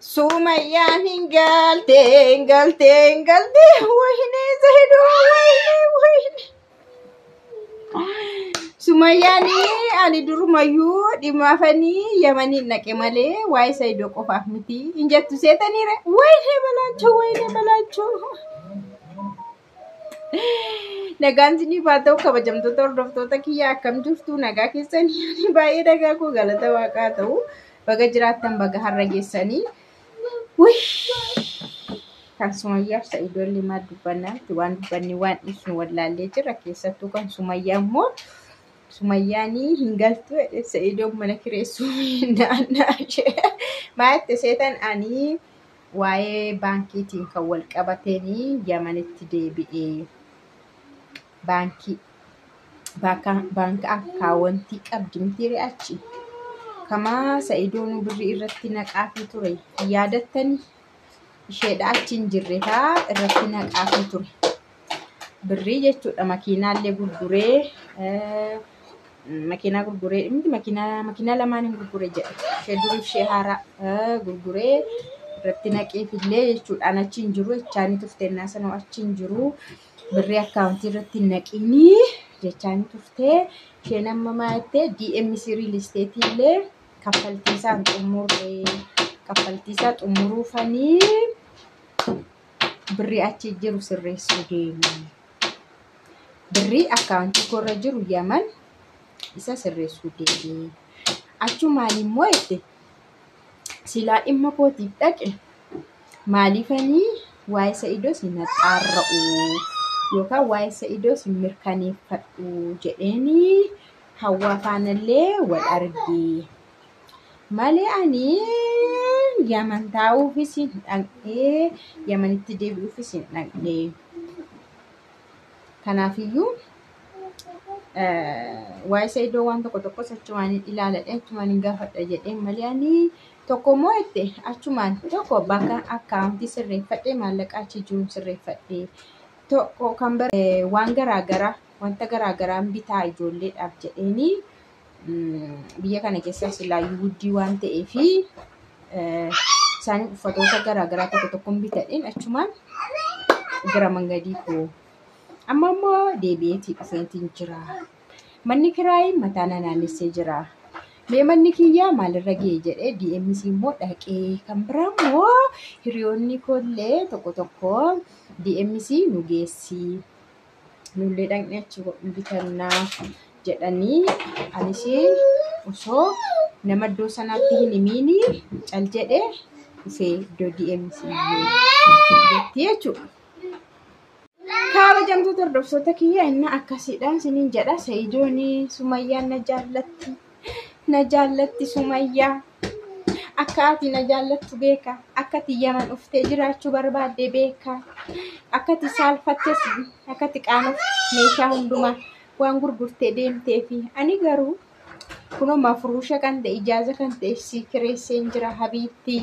Sumayyaan hin galte hin galte hin galte wayne zahidu wayne wayne. Sumayyaan ani durumayyuu dhimaafanii yamaniin naqe malee waa'ee Saidoo qofaaf miti hin jettu seetaniire wayne balaachoo wayne balaachoo. Nagaan isiniif haa ta'u kabajamtoota hordoftoota kiyya akkam jirtu nagaa keessan yaani baay'ee nagaa koo galata waaqaa ta'u baga jiraattan baga har'a geessanii. Wuy! Kan Sumayyaaf Sa'idoo illee maal dubbannaa miti waan dubbanne waan ibsinu wallaallee jira keessattuu kan Sumayyaa immoo Sumayyaanii hin galtu jedhe Sa'idoon mana kireessuu hin naannaa ishee. Maa jette seetan anii Waa'ee baankiitiin kan wal qabateen Yamanitti deebi'e. Baankii baanka akkaawwantii qabdi mitiire achi. Kamaa sa'idoon birrii irratti naqaafii ture. Yaadattani isheedha achi hin jirre kaa irratti naqaafii ture. birrii jechuudha makiinaallee gurguree eh, makiinaa gurguree miti makiinaa makiinaa lamaan hin gurgure jedhe ishee duriif ishee haaraa eh, gurguree irratti naqeefillee jechuudha an achi hin jiru jechaanii turte innaa sanoo achi hin jiru birrii akkaawuntii irratti hin naqiinii jechaanii turte isheen amma maa jettee DMC riil isteetii illee kaffaltii isaan xumurree kaffaltii isaa xumuruufanii birrii achi jiru sirreessuu deeme. Birrii akkaawuntii koorra jiru yaman isa sirreessuu deeme. Achumaan immoo itti silaa dhimma kootiif dhaqe maaliifanii waa'ee sa'idoo si naxaarra'u yookaan waa'ee sa'idoo si mirkaneeffadhu jedheenii hawaa faanallee wal argee. Malee ani Yaman taa'uufis hin dhaqnee Yamanitti deebi'uufis hin dhaqnee. Kanaafiyyuu waa'ee isa iddoo waan tokko tokkos achumaan hin ilaaladhe achumaan hin gaafadha jedheen malee ani tokko immoo itti achumaan tokko bakka akkaawuntii sirreeffadhe maallaqa achi jiru sirreeffadhe tokko kan bara waan garaagaraa wanta garaagaraan bitaa ijoolleedhaaf jedheenii biyya kana keessa silaayyuu guddii waan ta'ee fi isaan uffatoota garaagaraa tokko tokkoon bitadheen achumaan gara mangadii koo amma immoo deebi'eetii dhufeentiin jira manni kiraayii mataa na naannessee jira mee manni kiyyaa maalirra ga'e jedhee DMC immoo dhaqee kan biraa immoo hiriyoonni koollee tokko tokko DMC nu geessii nullee dhaqnee achi bitannaa jedhanii anis osoo nama iddoo sanaatti hin himiini cal jedhee dhufee iddoo DMC jetti jechuudha. Kabajamtoota hordoftoota kiyya inni akkasiidha isiniin jedha Sa'idoon Sumayyaan na jaallatti. na jaallatti sumayyaa akka ati na jaallattu beeka akkati yaman dhuftee jiraachuu barbaadde beeka akkati saalfattes akkati qaanuuf meeshaa hundumaa waan gurgurtee deemtee fi ani garuu kunoo mafuruusha kan ta'e ijaaza kan ta'e si kireesseen jira habiibtii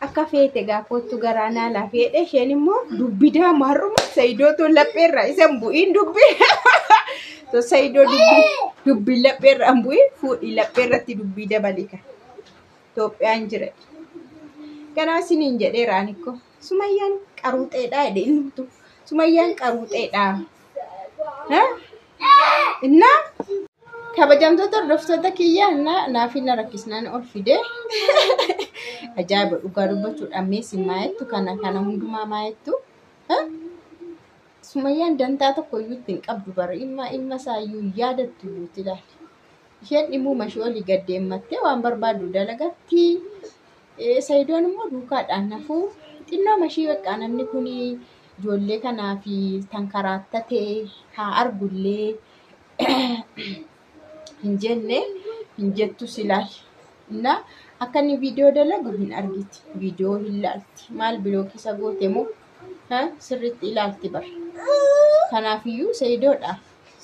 Akka feete gaa koottu garaa naa laafi jedhe isheen immoo dubbi daama har'uma sayidoo too lapheerra isan bu'iin dubbi to sayidoo dubbi dubbi lapheerra an bu'iin fuudhi lapheerratti dubbii dabalika Itoophiyaan jira kanaa siniin jedheera ani ko sumayyaan qaruuxeedhaa jedhe ilmtu sumayyaan qaruuxeedhaa. Innaa kabajamtoota hordoftoota kiyya innaa naaf hin rakkisnaan ol fide. Ajaa'iba dhugaa dubbachuudhaan mee si maayettu kana kana hundumaa maayettu. Sumayyaan dantaa tokko iyyuu itti hin qabdu bara ilma ilma isaa iyyuu hin yaadattu iyyuu itti ilaali. Isheen dhimmuma ishee olii gad deemmattee waan barbaaddu dalagatti. Sayidoon immoo duukaadhaan hafuu xinnooma ishii beekaa namni kun ijoollee kanaa fi tan karaattatee haa argullee hin jenne hin jettu silaal na akka inni viidiyoo dalagu hin argiti viidiyoo hin laalti maal bilookii isa goote moo ha, sirriitti ilaalti bar kanaafiyyuu sayidoodha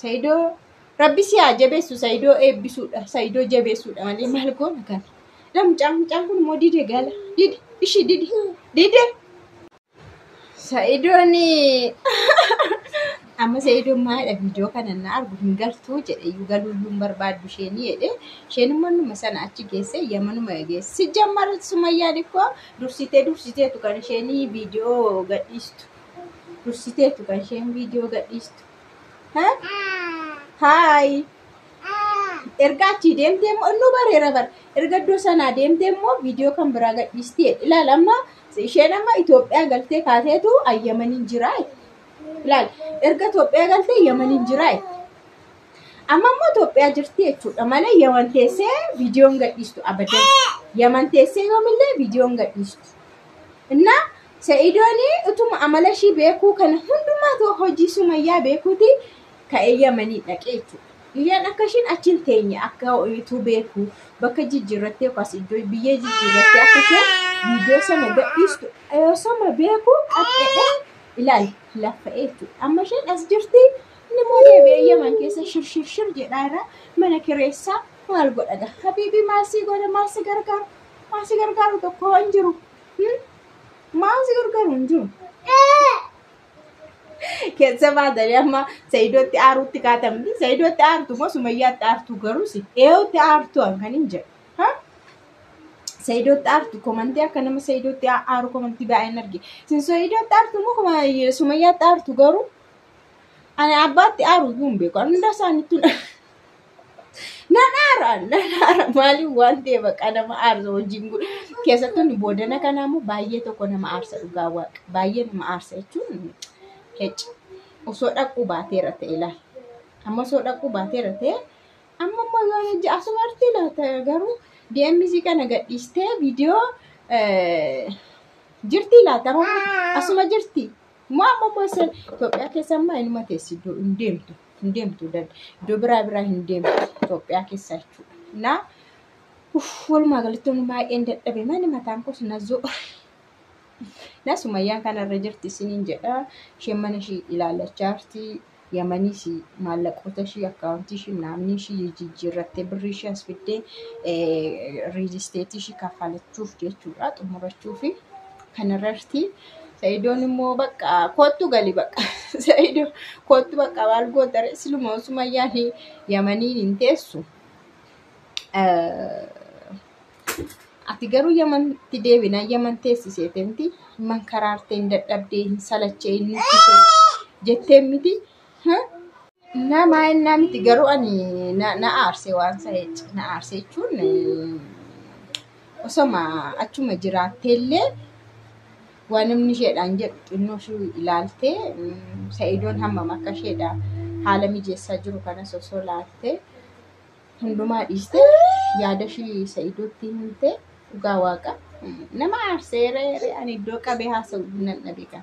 sayidoo rabbi si haa jabeessu sayidoo eebbisuudha sayidoo jabeessuudha malee maal goona kana la mucaan mucaan kun immoo dide gala dide ishii dide dide Sa'idoon amma sa'idoon maalidha viidiyoo kana na argu hin galtuu jedhe iyyuu galuu iyyuu hin barbaaddu isheen jedhe isheen immoo numa sana achi geesse yamanuma geesse si jammar sumayyaan ikkoo dursitee dursiteetu kan isheen viidiyoo gadhiistu dursiteetu kan isheen viidiyoo gadhiistu. Haayi erga achii deemtee immoo nu bareera bara erga iddoo sanaa deemtee immoo viidiyoo kan biraa gadhiistee ilaala amma Isheen amma Itoophiyaa galtee kaateetu Yamaniin jiraa jetti. Ilaali erga Itoophiyaa galtee Yamaniin jiraa jetti. Amma immoo Itoophiyaa jirti jechuudha malee Yaman teessee viidiyoon gadhiistu abadan. Yaman teessee yoomillee viidiyoon gadhiistu. Innaa Sa'idoon utuma amala ishii beekuu kana hundumaa ta'u hojii sumayyaa beekuuti ka'ee yamanii dhaqee jechuudha. Liiyaan akka ishiin achi hin teenye akka ituu beeku bakka jijjiirrattee yookaas iddoo biyyee jijjiirrattee akka isheen viidiyoo sana gadhiistu yoo sama beeku qaxxedhee ilaali laffa'ee jechuudha. Amma isheen as jirti inni immoo deebi'ee yaman keessa shirshirshir jedhaa irraa mana kireessaa maal godhaga habiibii maal sii godha maal si gargaaru maal si gargaaru tokko hin jiru maal si gargaaru hin jiru. Keessa baatanii amma Sa'iidootti aaruutti kaatamti. Sa'iidootti aartu moo Sumayyaatti aartu garuu si eeyootti aartu kan hin jedhu. Ha? Sa'iidootti aartu komantii akka nama Sa'iidootti aa- aaru komantii baay'een arge. Sin Sa'iidootti aartu moo kuma- Sumayyaatti aartu garuu ani abbaatti aaru iyyuu hin beeku. Ani hundaa isaaniittuu Nan aara, nan aara. Maaliif waan ta'e baqa nama aarsa hojiin kun. Keessattuu inni boodana kanaa immoo baay'ee tokko nama aarsa dhugaa waaqa. Baay'ee nama aarsa jechuun hecci. Osoo dhaquu baateera ta'e ilaal. Amma osoo dhaquu baateera ta'e amma immoo yoo hojii asuma artii laata garuu DMC kana gadhiistee viidiyoo jirtii laata amma asuma jirtii. Maa ammoo isheen Itoophiyaa keessa ammaa inuma teessi iddoo hin deemtu. Hin deemtu iddoo biraa biraa hin deemtu Itoophiyaa keessa jechuudha. Naa uff walumaa galatti inni baay'een dadhabe mani mataan koos nazoo. Naa sumayyaan kanarra jirti isiniin jedha. Isheen mana ishii ilaallachaa jirti. Yamaniis maallaqoota ishii akkaawuntii ishii naamni ishii jijjiirrattee birrii ishii as fiddee riil isteetii ishii kaffalachuuf jechuudha xumurachuuf kanarratti sa'idoon immoo bakka koottu gali bakka sa'idoo koottu bakka maal gootare siluma osuma yaani yamaniin hin teessu Ati garuu Yamanitti deebinaan Yaman teessisee miti mankaraartee hin dadhabdee hin salachee hin nuffisee jettee miti. Nama ennaa miti garuu ani na aarsee waan sa'eetti na aarsee jechuun osoma achuma jiraattee illee waan namni isheedhaan jedhu xinnoo ishuu ilaaltee sa'idoon hammam akka isheedha haala mijeessaa jiru kanas osoo laaltee. hundumaa dhiiste yaada ishii sa'iidootti himte dhugaa waaqa nama aarseeree ani iddoo qabee haasa'u nan dhabe kan.